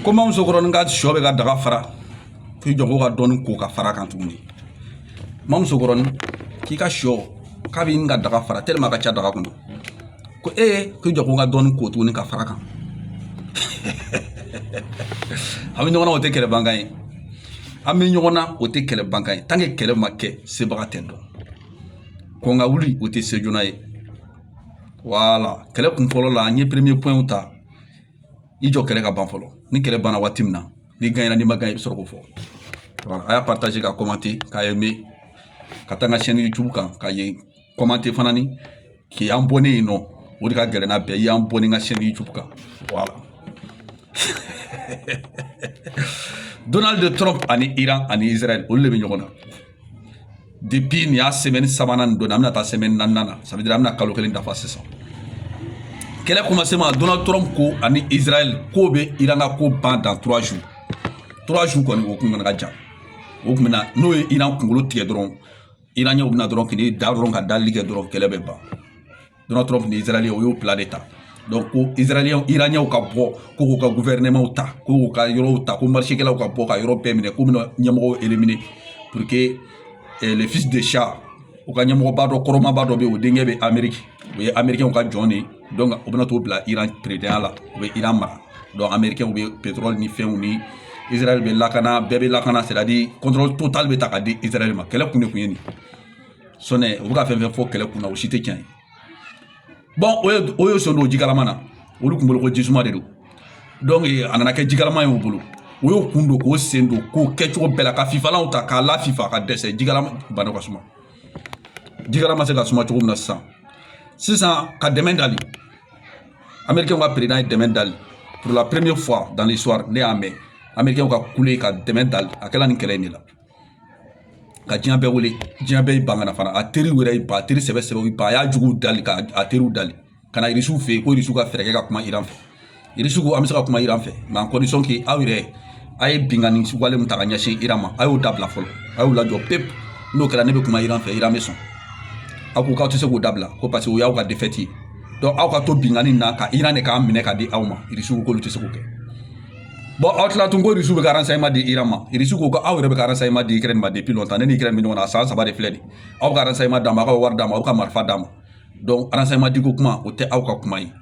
ko ma musokɔrɔnin ka sɔ bɛ ka daga fara k'i jɔ ko ka dɔɔni ko ka fara kan tuguni ma musokɔrɔnin k'i ka sɔ k'a b'i ka daga fara tellement ka ca daga kɔnɔ ko e k'i jɔ ko n ka dɔɔni ko tuguni ka fara kan an bɛ ɲɔgɔn na o tɛ kɛlɛ bankan ye an bɛ ɲɔgɔn na o tɛ kɛlɛ bankan ye tant que kɛlɛ ma kɛ sebaga tɛ dɔn kɔn ka wuli o tɛ se joona ye voilà kɛlɛ kun fɔlɔ la an ye premier pointw ta i jɔ kɛlɛ ka ban fɔlɔ ni kɛlɛ banna waati min na n'i gagnéna n'i ma gagné i bɛ sɔrɔ k'o fɔ a y'a partager ka commenter ka aimer ka taa n ka chaîne youtube kan ka ye commenter fana ni k'i abonner yen non o de ka gɛlɛn n'a bɛɛ ye abonner n ka chaîne youtube kan voilà donald trump ani iran ani israel olu de bɛ ɲɔgɔn na depuis nin y'a semaine sabanan nin don na an bɛna taa semaine naaninan na ça veut dire an bɛna kalo kelen dafa sisan kɛlɛ commencement donald trump ko ani israel k'u bɛ iran ka ko ban dans trois jours trois jours kɔni o kun kana ka jan o kun bɛna n'u ye iran kunkolo tigɛ dɔrɔn iranienw bɛna dɔrɔn k'i da dɔrɔn ka dali kɛ dɔrɔn kɛlɛ bɛ ban Donald Trump ni Israɛl u y'o plan de ta donc ko Israɛl iraniens ka bɔ ko k'u ka gouvernement ta ko k'u ka yɔrɔw ta ko marchekɛlaw ka bɔ ka yɔrɔ bɛɛ minɛ k'u bɛna ɲɛmɔgɔw éliminer pour que eh, le fils de Shah u ka ɲɛmɔgɔba dɔ kɔrɔmaba dɔ bɛ yen o denkɛ bɛ Amérique o ye américains ka jɔn de ye donc u bɛna t'o bila Iran présidentya la u bɛ Iran mara donc américains bɛ pétrole ni fɛnw ni Israël bɛ lakana bɛɛ bɛ lakana c'est à dire contrôle total bɛ ta ka di Israël ma kɛlɛ kun de kun ye nin sinon u bɛ ka fɛn o fɛn fɔ kɛlɛ kunna o si tɛ tiɲɛ ye bon o y'o sen don jikalama na olu kun bolo ko jisuma de don donc a nana kɛ jikalama ye u bolo o y'o kun don k'o sen don k'o kɛ cogo bɛɛ la ka fifalanw ta k'a lafifa ka dɛsɛ jikalama bana ka suma jikalama se ka suma cogo min na sisan sisan ka dɛmɛ dali américain ka président ye dɛmɛ dali pour la première fois dans l'histoire ne y'a mɛn américain ka kule ka dɛmɛ dali a kɛla nin kɛlɛ in de la ka diɲɛ bɛɛ wele diɲɛ bɛɛ y'i ban ka na fana a teriw yɛrɛ y'i ban a teri sɛbɛ sɛbɛ ba a y'a juguw dali k'a teriw dali ka na irisiw fɛ yen ko irisiw ka fɛɛrɛ kɛ ka kuma iran fɛ irisiw ko an bɛ se ka kuma iran fɛ mais en condition que aw yɛrɛ a ye binkanni wale min ta ka ɲɛsin iran ma a y'o dabila fɔlɔ a y'o lajɔ pewu n'o kɛra ne bɛ kuma iran fɛ iran bɛ sɔn aw ko k'aw tɛ se k'o dabila ko parce que o y'aw ka défaite ye donc aw ka to binkanni na ka iran de k'a minɛ ka di aw ma irisiw k'olu tɛ se k'o kɛ aw tila tun ko irisiw bɛ ka ma di ma irisi ko aw yɛrɛ bɛ ka ma di ma ne ni kɛra min ɲɔgɔn na san saba de filɛ nin aw ka ma d'a ma aw ka wari d'a ma aw ka marifa d'a ma ma di ko kuma o tɛ aw ka kuma ye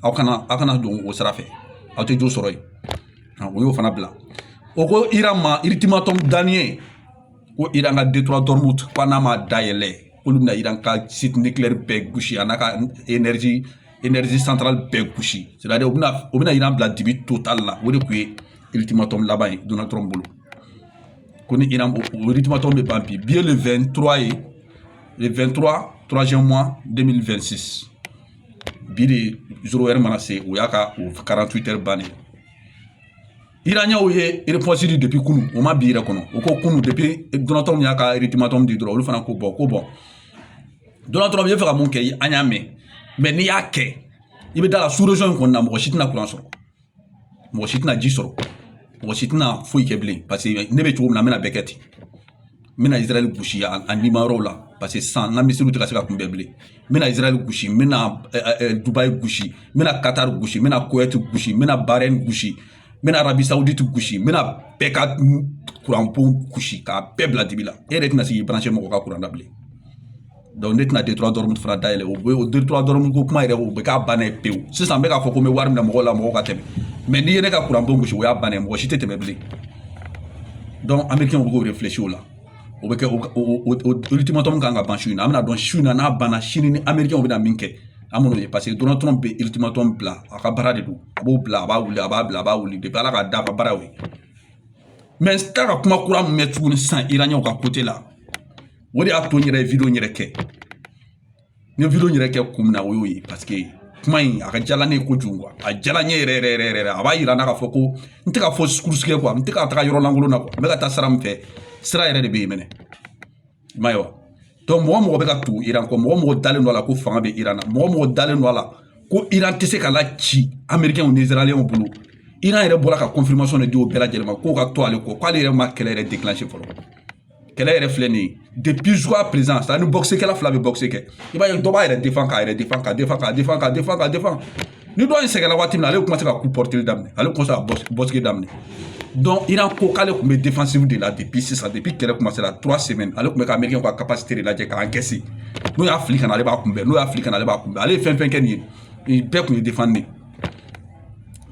aw kana aw kana don o sira fɛ aw tɛ jo sɔrɔ yen o y'o fana bila o ko ira ma iritimatɔ dani ko iran ka detura dɔrɔmu ko n'a ma dayɛlɛ k'olu bɛna iran ka sitinɛkilɛri bɛɛ gosi a n'a ka enerzi energie centrale bɛɛ gosi c'est à dire u bɛna u bɛna iran bila dibi total la o de tun ye ultimatum laban ye donald trump bolo ko ni iran o ultimatum bɛ ban bi bi ye le 23 ye le 23 troisième mois 2026 bi de zéro heure mana se o y'a ka o 48 heures bannen iraniɛnw ye repɔnsi di depi kunu o ma bi yɛrɛ kɔnɔ o ko kunu depi donald trump y'a ka ultimatum di dɔrɔn olu fana ko bɔn ko bɔn donald trump i bɛ fɛ ka mun kɛ an y'a mɛn mɛ n'i y'a kɛ i bɛ dans la sous-région in kɔnɔna mɔgɔ si tɛna kuran sɔrɔ mɔgɔ si tɛna ji sɔrɔ mɔgɔ si tɛna foyi kɛ bilen paseke ne bɛ cogo min na n bɛna bɛɛ kɛ ten n bɛna israël gosi a nima yɔrɔw la paseke sisan n ka misiriw tɛ ka se ka kunbɛn bilen n bɛna israël gosi n bɛna dubayi gosi n bɛna katari gosi n bɛna kowɛti gosi n bɛna barɛn gosi n bɛna arabisawudi gosi n bɛna bɛɛ ka kuran bon gosi k'a bɛɛ bila dibi la e yɛrɛ tɛna se k'i baranse mɔgɔ ka kuran na bilen ne tɛna détroit d'ormuz fana dayɛlɛ o ye o détroit d'ormuz ko kuma yɛrɛ o bɛ k'a bannen ye pewu sisan n bɛ k'a fɔ ko n bɛ wari minɛ mɔgɔw la mɔgɔw ka tɛmɛ mɛ n'i ye ne ka kuran bon gosi o y'a bannen mɔgɔ si tɛ tɛmɛ bilen amerikɛnw b'o réfléchir la o bɛ kɛ o ultimatum kan ka ban su in na an bɛn'a dɔn su in na n'a banna sini ni amerikɛnw bɛna min kɛ an b'o ye paseke donald trump bɛ ultimatum bila a ka baara de don a b'o bila a b'a wuli a b'a bila a b'a wuli de ala ka da ka baaraw ye mɛ n t'a ka kuma kura min mɛn tuguni sisan iraniɛnw ka côté la o de y'a to n yɛrɛ ye video in yɛrɛ kɛ n ye video in yɛrɛ kɛ kun min na o y'o ye paseke kuma in a ka diyala ne ye kojugu a diyala n ye yɛrɛ yɛrɛ yɛrɛ yɛrɛ a b'a yira n na k'a fɔ ko n tɛ ka fausse course kɛ kuwa n tɛ ka taga yɔrɔ lankolon na kuwa n bɛ ka taa sira min fɛ sira yɛrɛ de bɛ yen mɛnɛ i m'a ye wa donc mɔgɔ mɔgɔ bɛ ka tugu iran kɔ mɔgɔ mɔgɔ dalen don a la ko fanga bɛ iran na mɔgɔ mɔgɔ dalen don a la ko iran tɛ se ka la ci amerikɛnw ni israɛlɛnw bolo iran yɛrɛ bɔra ka confirmation de di o bɛɛ lajɛlen ma k'o ka to ale kɔ k'ale yɛrɛ ma kɛlɛ yɛrɛ déclencher fɔlɔ kɛlɛ yɛrɛ filɛ nin ye depuis jusqu'à présent c'est à dire ni bɔkisɛkɛla fila bɛ bɔkisɛ kɛ i b'a ye dɔ b'a yɛrɛ defan k'a yɛrɛ defan ka defan ka defan ka defan ka defan ni dɔ in sɛgɛnna waati min na ale bɛ commencer ka coup porter daminɛ ale bɛ commencer ka bɔkisi daminɛ donc iran ko k'ale tun bɛ defensive de la depuis sisan depuis kɛlɛ commencer la trois semaines ale tun bɛ ka américain ka capacité de lajɛ ka encaisser n'o y'a fili ka na ale b'a kunbɛn n'o y'a fili ka na ale b'a kunbɛn ale ye fɛn fɛn kɛ nin ye bɛɛ tun ye defan de ye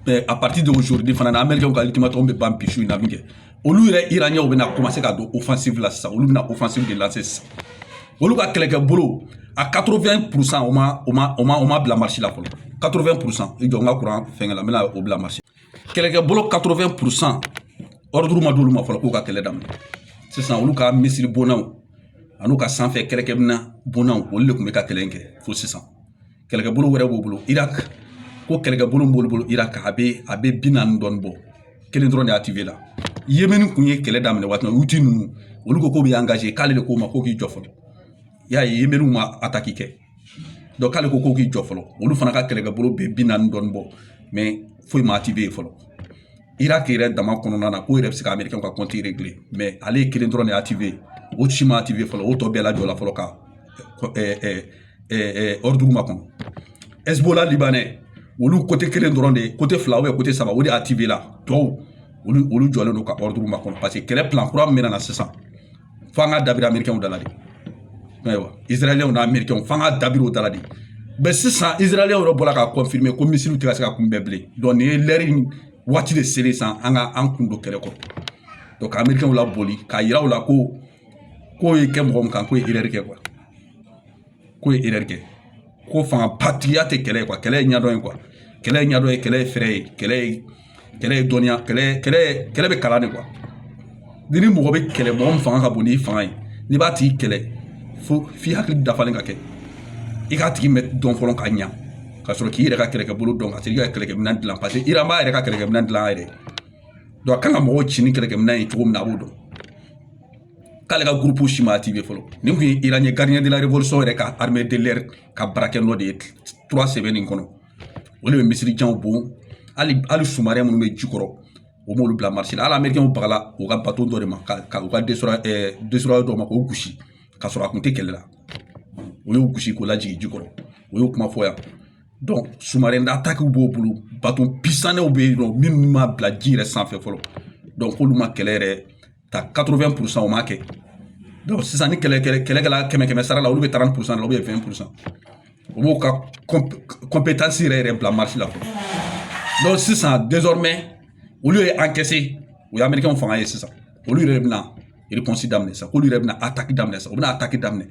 mais à partir d'aujourd'hui fana na américain ka ultimatum bɛ ban bi su in na min kɛ olu yɛrɛ iraniɛnw bɛna komanse ka don ofansifu la sisan olu bɛna ofansifu de lanse sisan olu ka kɛlɛkɛbolo a 80 pour cent o ma o ma o ma o ma bila marche la fɔlɔ 80 pour cent i jɔ n ka kuran fɛngɛ la n bɛna o bila marche kɛlɛkɛbolo 80 pour cent ɔriduru ma d'olu ma fɔlɔ k'u ka kɛlɛ daminɛ sisan olu ka misiri bonnaw an'u ka sanfɛ kɛlɛkɛminɛn bonnaw olu de tun bɛ ka kɛlɛ in kɛ fo sisan kɛlɛkɛbolo wɛrɛ b'u bolo iraki ko kɛlɛkɛbolo b'olu bolo iraki a bɛ a bɛ bi naani dɔɔni bɔ kelen dɔrɔn de activé la yemini kun ye kɛlɛ daminɛ waati min na houthi ninnu olu ko k'u bɛ engagé k'ale de k'o ma ko k'i jɔ fɔlɔ y'a ye yeminiw ma ataki kɛ k'ale ko k'u k'i jɔ fɔlɔ olu fana ka kɛlɛkɛbolo bɛ bi naani dɔɔni bɔ mɛ foyi ma activé yen fɔlɔ iraki yɛrɛ dama kɔnɔna na k'o yɛrɛ bɛ se ka amerikɛn ka kɔnti regile mɛ ale ye kelen dɔrɔn de activé yen o si ma activé fɔlɔ o tɔ bɛɛ lajɔla fɔlɔ ka makɔnɔ ɛsibola libanɛ olu kote kelen dɔrɔn de ye fila ou bien saba o de activé la tɔw olu olu jɔlen don ka ordre makɔnɔ parce que kɛlɛ plan kura min bɛ na sisan fo an ka dabiri amerikɛnw da la de ayiwa israɛlɛnw ni amerikɛnw fo an ka dabiri o da la de mɛ sisan israɛlɛnw yɛrɛ bɔra k'a kɔnfirime ko misiliw tɛ ka se ka kunbɛn bilen donc nin ye lɛri waati de selen san an ka an kun don kɛlɛ kɔrɔ donc ka amerikɛnw laboli k'a yira u la ko ko ye kɛ mɔgɔ min kan k'o ye erreur kɛ k'o ye erreur kɛ ko fangabatigiya tɛ kɛlɛ ye kɛlɛ ye ɲɛdɔn ye kɛlɛ ye ɲɛdɔn ye kɛlɛ ye fɛɛrɛ ye kɛlɛ ye kɛlɛ ye dɔnniya kɛlɛ kɛlɛ kɛlɛ bɛ kalan de quoi ni ni mɔgɔ bɛ kɛlɛ mɔgɔ min fanga ka bon n'i fanga ye n'i b'a tigi kɛlɛ fo f'i hakili dafalen ka kɛ i k'a tigi mɛ dɔn fɔlɔ ka ɲa ka sɔrɔ k'i yɛrɛ ka kɛlɛkɛbolo dɔn ka se i ka kɛlɛkɛminɛn dilan paseke iran b'a yɛrɛ ka kɛlɛkɛminɛn dilan a yɛrɛ a kan ka mɔgɔw ci ni kɛlɛkɛminɛn ye cogo min na a b'o dɔn k'ale ka gurupu si ma activé fɔlɔ nin kun ye iran ye gardien de la révolution yɛrɛ ka armée de l'air ka baarakɛ nɔ de ye trois semaines nin kɔnɔ o de bɛ misili janw bon hali hali sous-marin minnu bɛ ji kɔrɔ o m'olu bila marché la hali amerikɛnw bagala u ka bato dɔ de ma ka u ka destroyer destroyer dɔ ma k'o gosi ka sɔrɔ a kun tɛ kɛlɛ la o y'o gosi k'o lajigin ji kɔrɔ o y'o kuma fɔ yan donc sous-marin d'attaquew b'o bolo bato puissantw bɛ yen nɔ minnu ma bila ji yɛrɛ sanfɛ fɔlɔ donc k'olu ma kɛlɛ yɛrɛ ta 80 pourcent o ma kɛ donc sisan ni kɛlɛ kɛlɛ kɛlɛkɛla kɛmɛ kɛmɛ sara la olu bɛ 30 pourcent la ou bien 20 pourcent o b'o ka compétence yɛrɛ yɛrɛ bila marché la donc sisan désormais olu ye encaissé o ye américain fanga ye sisan olu yɛrɛ bɛna réponse daminɛ sisan k'olu yɛrɛ bɛna attaque daminɛ sisan u bɛna attaque daminɛ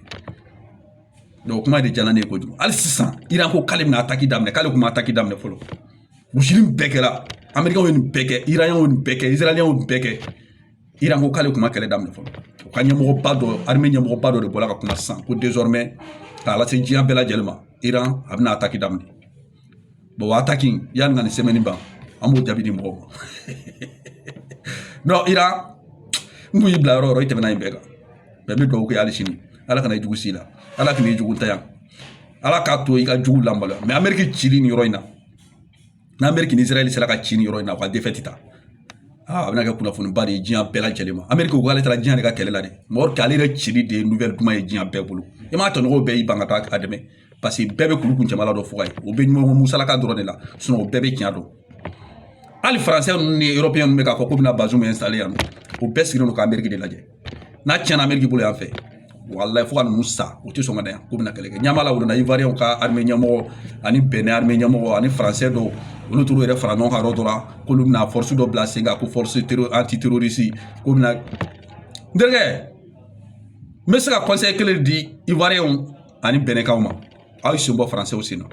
o kuma de jala ne ye kojugu hali sisan iran ko k'ale bɛna ataki daminɛ k'ale kun ma ataki daminɛ fɔlɔ gosili nin bɛɛ kɛra amerikɛnw ye nin bɛɛ kɛ iraniɛnw ye nin bɛɛ kɛ israɛlɛnw ye nin bɛɛ kɛ iran ko k'ale kun ma kɛlɛ daminɛ fɔlɔ u ka ɲɛmɔgɔba dɔ arime ɲɛmɔgɔba dɔ de bɔra ka kuma sisan ko désormais k'a lase diɲɛ bɛɛ lajɛlen ma iran a bɛna ataki daminɛ o ataki yanni ka nin sɛmɛni ban an b'o jaabi di mɔgɔw ma non iran n kun y'i bila yɔrɔ o yɔrɔ i tɛmɛna yen bɛɛ kan mɛ n bɛ dugawu kɛ hali sini ala kana i jugu s'i la ala kana i jugu ta yan ala k'a to i ka jugu lamaloya mɛ ameriki cili nin yɔrɔ in na n'ameriki ni israɛl sera ka ci nin yɔrɔ in na u ka defɛti ta a bɛna kɛ kunnafoniba de ye diɲɛ bɛɛ lajɛlen ma ameriki ko k'ale taara diɲɛ de ka kɛlɛ la de mɔgɔ k'ale yɛrɛ cili de ye nouvelle duman ye diɲɛ bɛɛ bolo i m'a tɔɲɔgɔnw bɛɛ y'i ban ka taa a dɛmɛ paseke bɛɛ bɛ kuru kun jamana dɔ fɔ ka ye o bɛ ɲɔgɔn musalaka dɔrɔn de la sinɔn o bɛɛ bɛ tiɲɛ dɔn hali faransɛ ninnu ni eropeyɛn ninnu bɛ k'a fɔ k'u bɛna bazumu ɛnsitale yan o bɛɛ sigilen don k'ameriki de lajɛ n'a tiɲɛna ameriki bolo yan fɛ walayi fo ka ninnu sa u tɛ sɔn ka na yan k'u bɛna kɛlɛ kɛ ɲɛmaa la wulila ivariyɛnw ka arime ɲɛmɔgɔ ani benɛn arime ɲɛmɔgɔ ani faransɛ dɔw olu t'u yɛrɛ fara ɲɔgɔn kan yɔrɔ dɔ la k'olu bɛna fɔrisi dɔ bila sen kan ko fɔrisi tero anti terorisi k'u bɛna n terikɛ n bɛ se ka kɔnsɛyi kelen di ivariyɛnw ani benɛnkaw ma aw ye sen bɔ faransɛw sen na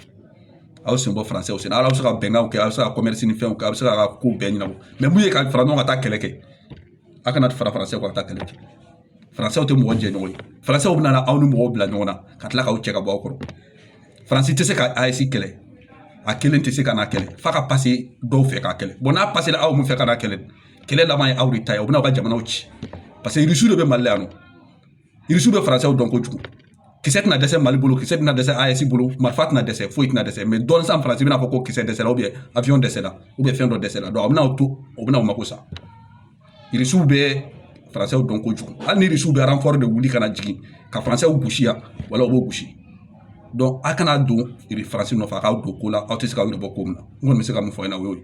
aw sen bɔ faransɛw sen na aw bɛ se ka bɛnkanw kɛ aw bɛ se ka kɔmɛrisi ni fɛnw kɛ aw bɛ se ka ko bɛɛ ɲɛnabɔ mɛ min ye ka fara ɲɔgɔn kan ka taa kɛlɛ kɛ a kana fara faransɛw kan ka taa kɛlɛ kɛ faransɛw tɛ mɔgɔ jɛɲɔgɔn ye faransɛw bɛna aw ni mɔgɔw bila ɲɔgɔn na ka tila k'u cɛ ka bɔ aw kɔrɔ faransi tɛ se ka aɛsi kɛlɛ a kelen tɛ se ka n'a kɛlɛ f'a ka pase dɔw fɛ k'a kɛlɛ bɔn n'a pasera aw min fɛ ka n'a kɛlɛ kɛlɛ laban ye aw de ta ye u bɛna aw ka jamanaw ci paseke irisiw de bɛ mali la yan nɔ irisi bɛ faransɛw dɔn kojugu kisɛ tɛna dɛsɛ mali bolo kisɛ tɛna dɛsɛ aɛsi bolo marifa tɛna dɛsɛ foyi tɛna dɛsɛ mɛ dɔɔnin sa faransi bɛna fɔ ko kisɛ dɛsɛla ubiyɛn awiyɔn dɛsɛla ubiyɛn fɛn dɔ dɛsɛla a bɛna to o bɛna o mako sa irisiw bɛ faransɛw dɔn kojugu hali ni irisiw bɛ aranfɔri de wuli ka na jigin ka faransɛw gosi yan wala u b'o gosi dɔnki a kana don faransi nɔfɛ a k'aw don ko la aw tɛ se ka aw yɛrɛ bɔ ko min na n kɔni bɛ se ka min fɔ aw ɲɛna o y'o ye